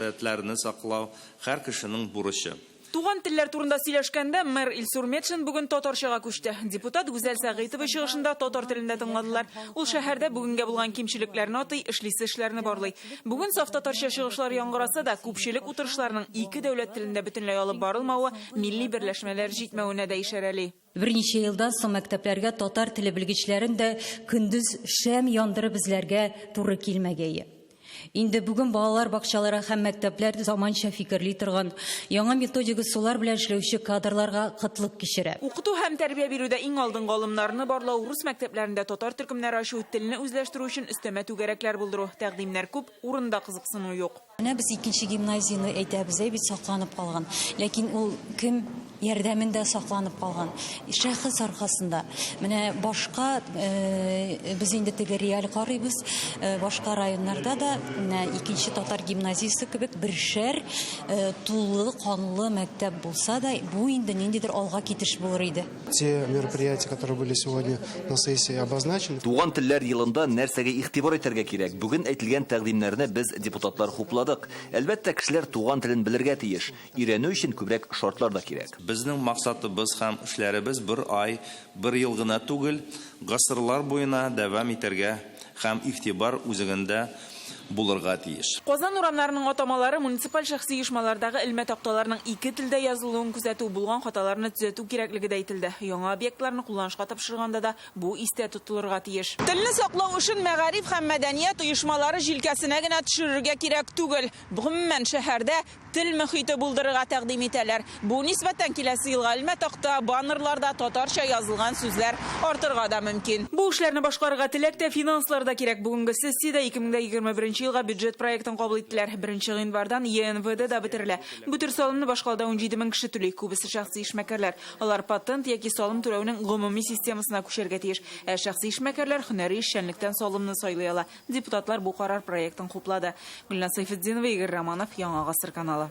Телләрне саклау, һәр кешенең бурычы. Туган телләр турында сөйләшкәндә, мэр Илсур Метшин бүген татарчага күчте. Депутат Гүзәл Сәгыйтова чыгышын да татар телендә тыңладылар. Ул шәһәрдә бүгенгә булган кимчелекләрне атый, эшлисе эшләрне барлый. Бүген саф татарча чыгышлар яңгыраса да, күпчелек утырышларның ике дәүләт телендә бөтенләй алып барылмавы милли берләшмәләр җитмәвенә дә ишарәли. Берничә елдан соң мәктәпләргә татар теле белгечләрен дә көндез шәм яндырып эзләргә туры килмәгәе. Инде бүген балалар бакчалары һәм мәктәпләр заманча фикерли торган, яңа методик ысуллар белән эшләүче кадрларга кытлык кичерә. Укыту һәм тәрбия бирүдә иң алдынгы алымнарны барлау, рус мәктәпләрендә татар төркемнәре ачу, телне үзләштерү өчен өстәмә түгәрәкләр булдыру, тәкъдимнәр күп, урында кызыксыну юк. Менә без икенче гимназияне әйтәбез, әй бит сакланып калган. Ләкин ул кем ярдәмендә сакланып калган? Шәхес аркасында. Менә башка э, без инде теге реаль карыйбыз, э, башка районнарда да менә икенче татар гимназиясе кебек бершәр э, тулы канлы мәктәп булса да, бу инде ниндидер алга китеш булыр иде. Те мероприятия, которые были сегодня на сессии обозначены. Туган телләр елында нәрсәгә игътибар итәргә кирәк? Бүген әйтелгән тәкъдимнәрне без депутатлар хупладык. Әлбәттә, кешеләр туган телен белергә тиеш. Өйрәнү өчен күбрәк шартлар да кирәк. Безнең максатыбыз һәм эшләребез бер ай, бер ел гына түгел, гасырлар буена дәвам итәргә Һәм игътибар үзегендә булырга тиеш. Казан урамнарының атамалары муниципаль шәхси оешмалардагы элмә такталарның ике телдә язылуын күзәтү, булган хаталарны төзәтү кирәклеге дә әйтелде. Яңа объектларны кулланышка тапшырганда да бу истә тотылырга тиеш. Телне саклау эшен мәгариф һәм мәдәният оешмалары җилкәсенә генә төшерергә кирәк түгел. Гомумән, шәһәрдә Тел мөхите булдырырга тәкъдим итәләр. Бу нисбәттән киләсе елга элмә-такта, баннерларда татарча язылган сүзләр артырга да мөмкин. Бу эшләрне башкарырга теләк тә, финанслар да кирәк. Бүгенге сессиядә 2021 елга бюджет проектын кабул иттеләр. Беренче гыйнвардан ЕНВД да бетерелә. Бу төр салымны башкалада унҗиде мең кеше түли, күбесе шәхси эшмәкәрләр. Алар патент яки салым түләүнең гомуми системасына күчәргә тиеш. Ә шәхси эшмәкәрләр һөнәри эшчәнлектән салымны сайлый ала. Депутатлар бу карар проектын хуплады. Гөлназ Сәйфетдинова, Игорь Романов, Яңа гасыр каналы.